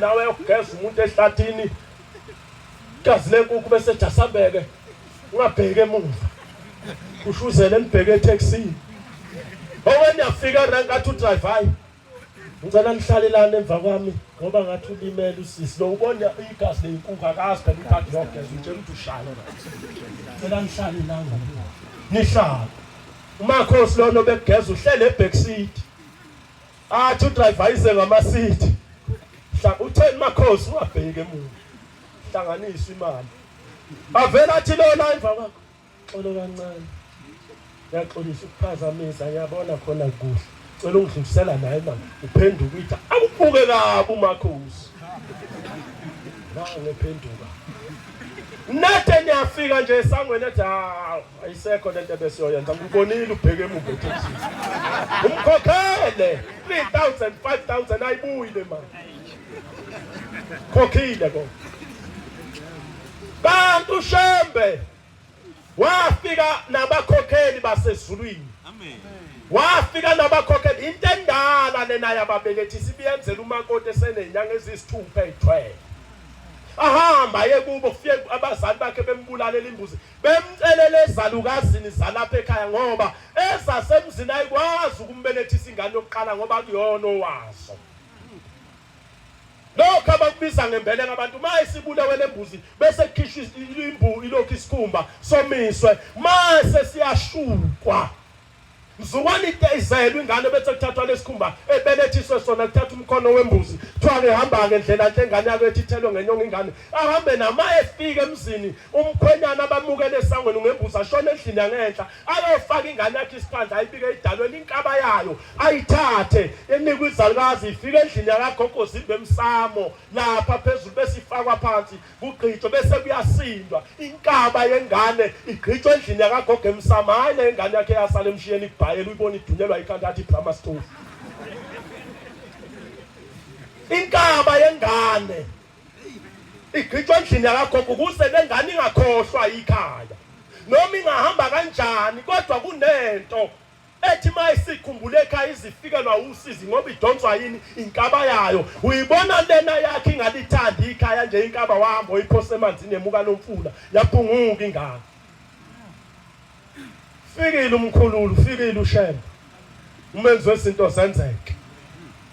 nawe yokugeza umuntu ehlathini gazi lenkukhu bese jasambeke ungabheke emuva ushuzele nibheke etaxini owe niyafika la ngathi udrive hayi ngicela nihlalelane emva kwami ngoba ngathi ulimele usisi lo ubona igazi lenkukhu akazi phela ukade yogeza utshela ukuthi ushaya ngicela nihlale la nihlale umakhosi lona obekugeza uhlele ebhekisidi Athi udriver ayise ngamasithi. Hla utheni makhosi ungabheki emuva. Hlanganisa imali. Avela athi lona emva kwakho. Xolo kancane. Ngiyaxolisa ukuphazamisa ngiyabona khona kuhle. Cela ungidlulisela naye mama. Uphenduka ithi awubuke kabi umakhosi. Nange phenduka. Nathe niyafika nje esangweni ethi hawu. ayisekho lento ebesiyoyenza ngibonile ubheke emuva ethi umkhokhele 3000 5000 ayibuyi le mali khokhile ko kanti ushembe wafika nabakhokheli basezulwini amen wafika nabakhokheli into endala lena yababelethi sibiyenzela umakoti esenenyanga ezisithupha ezithwele ahamba ye kubo fike abazali bakhe bembulalela imbuzi bemcelela ezalukazini zalapha ekhaya ngoba ezasemzini ayikwazi ukumbelethisa ingane yokuqala ngoba kuyona owazo lokho abakubiza ngembeleka abantu uma isibulewe le mbuzi bese kukhishwa imbu ilokhu isikhumba somiswe mase siyashukwa Mzukwane iteyizelwe ingane bese kuthathwa lesikhumba ebelethiswe sona kuthatha umkhono wembuzi kuthiwa ngihamba ngendlela nhle ingane yakho ethi ithelwe ngenyongo ingane ahambe nama efike emzini umkhwenyana abamukele esangweni ngembuzi ashone endlini yangenhla ayofaka ingane yakhe isiphandla ayibike idalweni inkaba yayo ayithathe enikwe izalukazi ifike endlini yakagogo zimbe emsamo lapha phezulu bese ifakwa phansi kugqitshwe bese kuyasindwa inkaba yengane igqitshwe endlini yakagogo emsama hhayi le ngane yakhe yasala emshiyeni ibhayela uyibona idunyelwa ikhanda athi ibrama stove inkaba yengane igqitshwe endlini yakagogo ukuze le ngane ingakhohlwa yikhaya noma ingahamba kanjani kodwa kunento ethi mayisikhumbule ekhaya izifikelwa usizi ngoba idonswa yini inkaba yayo uyibona lena yakhe ingalithandi ikhaya nje inkaba wahamba oyiphose emanzini emuka lomfula yaphunguka ingane fikile umkhululu fikile ushembe umenzi wezinto zenzeke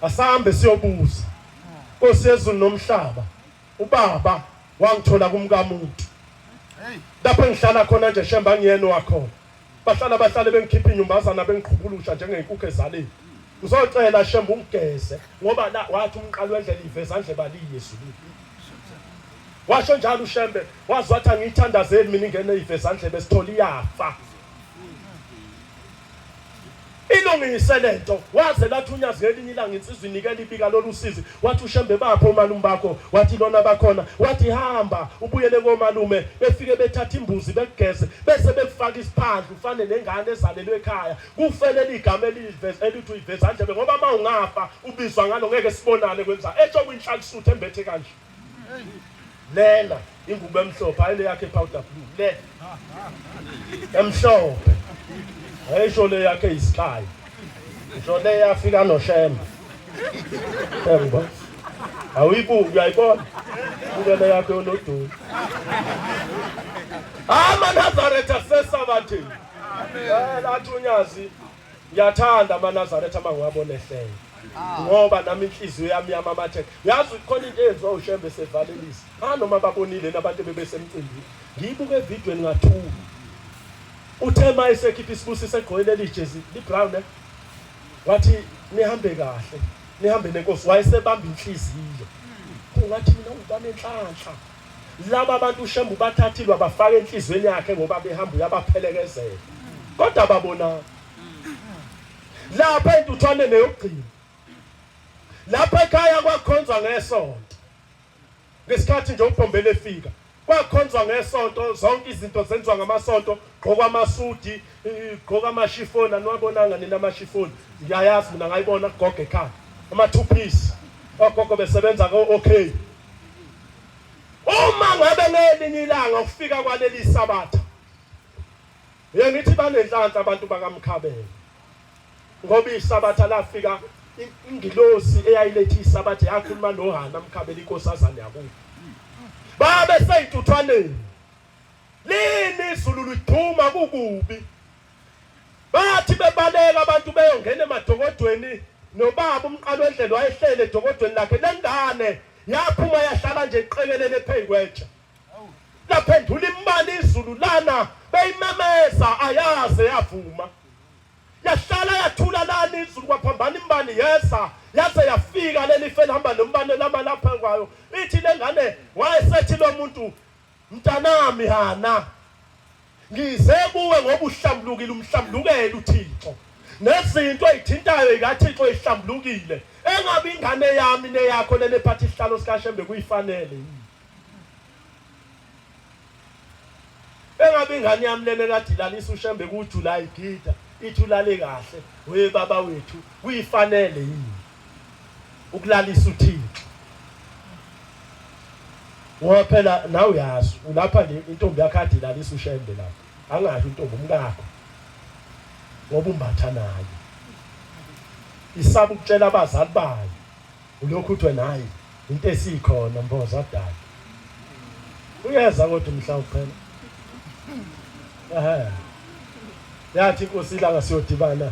asambe siyobuza Nkosi yezulu nomhlaba ubaba wangithola kumkamuntu lapho engihlala khona nje shemba ngiyena wakhona Bahlala bahlale bengikhipha inyumbazana bengiqhubulusha njengenkukhu ezaleni. Ngizocela shembe ungigeze ngoba la wathi umqalo wendlela iveza ndle baliye ezulwini. Washo njalo uShembe wazi wathi angiyithandazeli mina ingene iveza ndlebe sithole iyafa. Ilungise lento waze lathunyazwa elinye ilanga insizwa inikela ibika lolu sizi wathi ushembe bapho omalume bakho wathi lona bakhona wathi hamba ubuyele komalume befike bethatha imbuzi bekugeze bese bekufaka isiphandla ufane nengane ezalelwe ekhaya kufelele igama eliveza elithi uyiveza ndlebe ngoba uma ungafa ubizwa ngalo ngeke sibonane kwenza esho kwinhlakusuthu embethe kanje lena ingubo emhlophe ayile yakhe powder blue le emhlophe ayisho le yakhe isikhaya ngisho le yafika noshemba yebo awuyibuki uyayibona ubele yakhe oloduni amanazareth asesabathini amen athi unyazi Ngiyathanda amaNazaretha uma ngiwabona ehlele ah. ngoba nami inhliziyo yami yamamatheka yazi khona into eyenziwa ushembe sevalelisa anoma ah, babonile nabantu bebesemcimbini ngiyibuke evidweni ngathula uthe uma esekhipha isibusiso egqoke leli jezi librown eh? wathi nihambe kahle nihambe nenkosi wayesebamba inhliziyo kungathi mina ubanenhlanhla Laba abantu uShembe ubathathile wabafaka enhlizweni yakhe ngoba behamba uyabaphelekezela. Kodwa babonani? Lapha entuthwane neyokugcina. Lapha ekhaya kwakhonzwa ngesonto. Ngesikhathi nje uBhombele efika, kwakhonzwa ngesonto zonke izinto zenziwa ngamasonto gqoka amasudi gqoka amashifoni aniwabonanga nina amashifoni ngiyayazi mina ngayibona kugoga ekhaya ama-two piece ogogo besebenza ko-okay Uma ngabe ngelinye ilanga ufika kwaleli sabatha ngithi banenhlanhla abantu bakamkhabela ngoba isabatha lafika ingilosi eyayilethi isabatha yakhuluma nohana mkhabela inkosazane yakubo babe seyintuthwaneni lini izulu liduma kukubi Bathi bebaleka abantu beyongena emadokodweni nobaba umqalwendlela wayehlele edokodweni lakhe lengane yaphuma yahlala nje iqekelele phezu kwetshe laphendula imali izulu lana beyimemeza ayaze yavuma yahlala yathula lana izulu kwaphambana imbani yeza yaze yafika leli fela hamba nombane lama lapha kwayo ithi lengane wayesethi lo muntu Mntanami Hana, ngize kuwe ngoba uhlambulukile, umhlambulukele uThixo. Nezinto ezithintayo zikaThixo ezihlambulukile, engabe ingane yami neyakho lena ephatha isihlalo sikaShembe kuyifanele yini? Engabe ingane yami lena ekadilanisa uShembe kuJulayi gida ithi ulale kahle, we baba wethu kuyifanele yini? ukulalisa uThixo ngoba phela nawe uyazi ulapha nje intombi yakhe ade ilalisa ushembe lapha angasho intombi umkakho ngoba umbatha naye isaba ukutshela abazali bayo ulokhu uthwe naye into esikhona mboza dala uyeza kodwa mhlawumbe phela ehe yathi inkosi ilanga siyodibana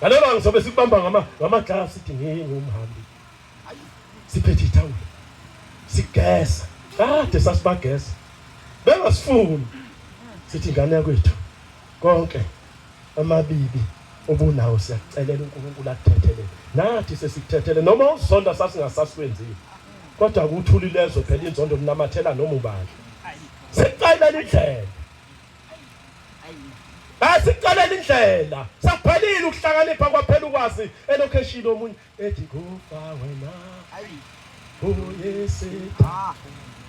Ngale banga sobe sikubamba ngama ngamaglasi sithi ngingumhambi. Siphethe ithawula. Sigeza. Kade sasibageza. Bengasifuni. Sithi ingane yakwethu konke amabibi obunawo siyakucelela uNkulunkulu akuthethelele. Nathi sesikuthethelele noma usonda sasingasasikwenzile. Kodwa akuthuli lezwe phela inzondo linamathela noma ubani. Sekuqayela indlela. Asiqalele indlela. Sakuphelile ukuhlakanipha kwaphela ukwazi elocation omunye ethi kufa wena. Ayi. Uyesi. Ah.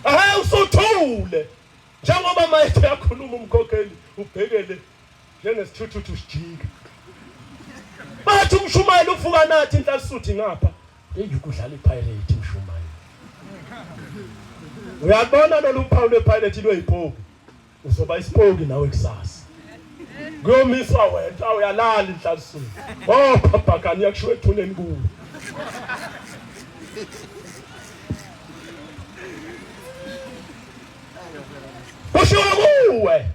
Ahe usuthule. Njengoba manje uyakhuluma umkhokheli ubhekele njengesithuthuthu sijika. Bathi umshumayeli ufuka nathi inhlasisuthi ngapha. Eyi ukudlala iPirate umshumayeli. Uyabona lolu phawu lwePirate lweyipoki. uzoba isipoki nawe kusasa kuyomiswa wena uyalala inhlasini oh phaphakani uyakushiwa ethuneni kuwe kushiwo kuwe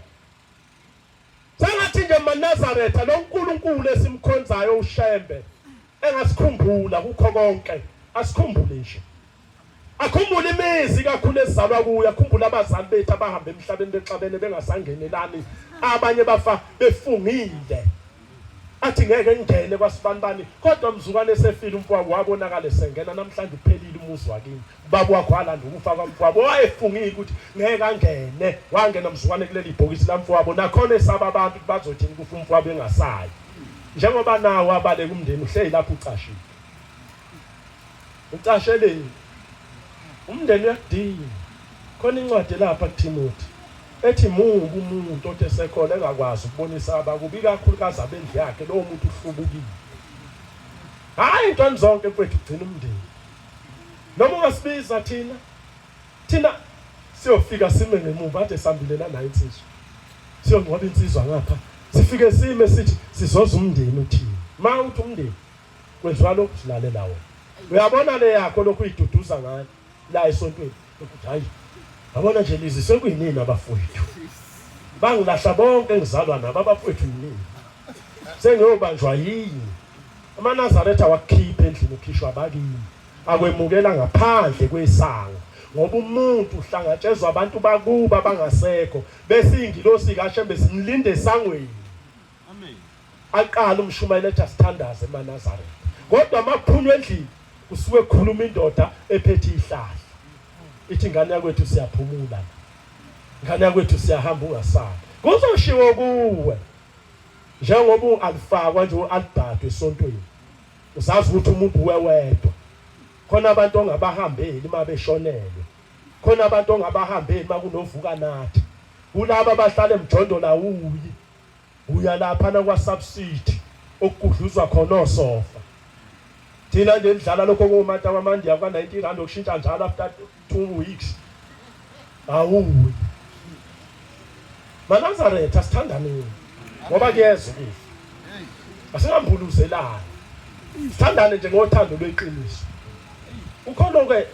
sengathi nje manazaretha lo nkulunkulu esimkhonzayo ushembe engasikhumbula kukho konke asikhumbule nje Akhumbule imizi kakhulu ezalwa kuyo, akhumbule abazali bethu abahamba emhlabeni bexabene bengasangenelani, abanye bafa befungile. Athi ngeke ngingene kwasibanibani, kodwa mzukwane esefile umfowabo wabonakala esengena namhlanje uphelile umuzi wakini. Baba wakho walanda ukufa kwamfowabo wayefungile ukuthi ngeke angene, wangena mzukwane kuleli bhokisi lamfowabo. Nakhona esaba abantu bazothini kufa umfowabo engasayi. Njengoba nawo abaleka umndeni uhleli lapho ucashile. Ucasheleni? Umndeni uyakudinga. Khona incwadi elapha kuThimothi ethi mubi umuntu othi esekhona engakwazi ukubonisa abakubi kakhulukazi abendlu yakhe lowo muntu uhlubukile hhayi ntoni zonke kwethu kugcina umndeni noma ungasibiza thina thina siyofika sime ngemuva ade sambilela nayo insizwa siyongcwaba insizwa ngapha sifike sime sithi sizoza umndeni uthini ma uthi umndeni Kwezwa lokhu silalela wena. Uyabona le yakho lokhu uyiduduza ngayo la esontweni ukuthi hayi yabona nje lizi sekuyinini abafowethu. Bangilahla bonke engizalwa nabo abafowethu yinini. Sengiyobanjwa yini? AmaNazaretha wakukhipha endlini ukhishwa abakini. Akwemukela ngaphandle kwesango ngoba umuntu uhlangatshezwa abantu bakuba bangasekho bese ingilosi kaShembe simlinde esangweni aqala umshumayela ethi asithandaze emanazaretha kodwa makuphuma endlini kusuke kukhuluma indoda ephethe ihlahla ithi ingane yakwethu siyaphumula ingane yakwethu siyahamba ungasali kuzoshiwo kuwe njengoba u-alifakwa nje u-albhado esontweni usazi ukuthi umuntu wewedwa khona abantu ongabahambeli uma beshonelwe khona abantu ongabahambeli uma kunovuka nathi kulaba abahlala emjondolawu Uya laphana kwaSubside okugudluzwa khona osofa. Thina nje sidlala lokho ngomata kwamandiya kwa-90 rand okushintsha njalo after two weeks. Awuyi. MaNazaretha sithandaneni ngoba kuyeza ukufa. Asingambuluzelani. Sithandane nje ngothando lweqiniso. Ukhona-ke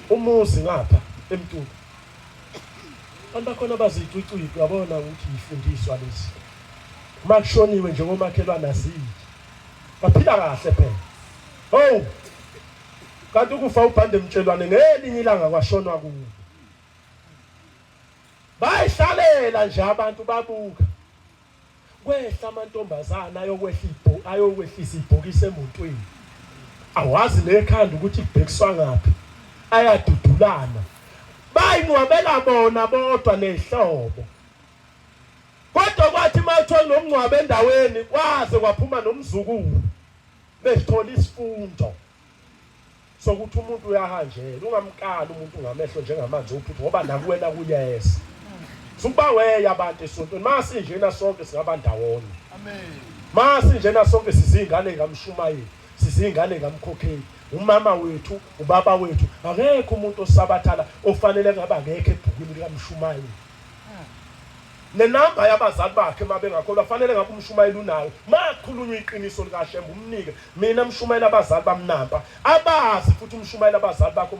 umuzi ngapha eMtuba. Abantu bakhona bazicwicwicwe abona ukuthi yifundiswa lezi. Uma kushoniwe nje komakhelwane aziyi. Baphila kahle phela. Oh! Kanti ukufa ubhande mtshelwane ngelinye ilanga kwashonwa kuwo. Bayihlalela nje abantu babuka. Kwehla amantombazana ayokwehla ibho ayokwehlisa ibhokisi emotweni. Awazi nekhanda ukuthi ibhekiswa ngaphi. Ayadudulana. Bayinqwabela bona bodwa nehlobo. Kodwa kwathi mawuthola nomngcwabo endaweni kwaze kwaphuma nomzukulu. Besithola isifundo. sokuthi umuntu uyahanjela ungamkali umuntu ngamehlo njengamanzi uphupho ngoba nakuwena kuyeza sukuba weya abantu esontweni masinjena sonke singaba ndawonye masinjena sonke sizingane ngamshumayeli sizingane ngamkhokheli umama wethu ubaba wethu akekho umuntu osabathala ofanele ngaba ngekho ebhukwini likamshumayeli Ne number yabazali bakhe uma bengakholwa fanele ngabe umshumayeli unayo makhulunywa iqiniso likaShembe umnike mina mshumayeli abazali bamnampa abazi futhi umshumayeli abazali bakho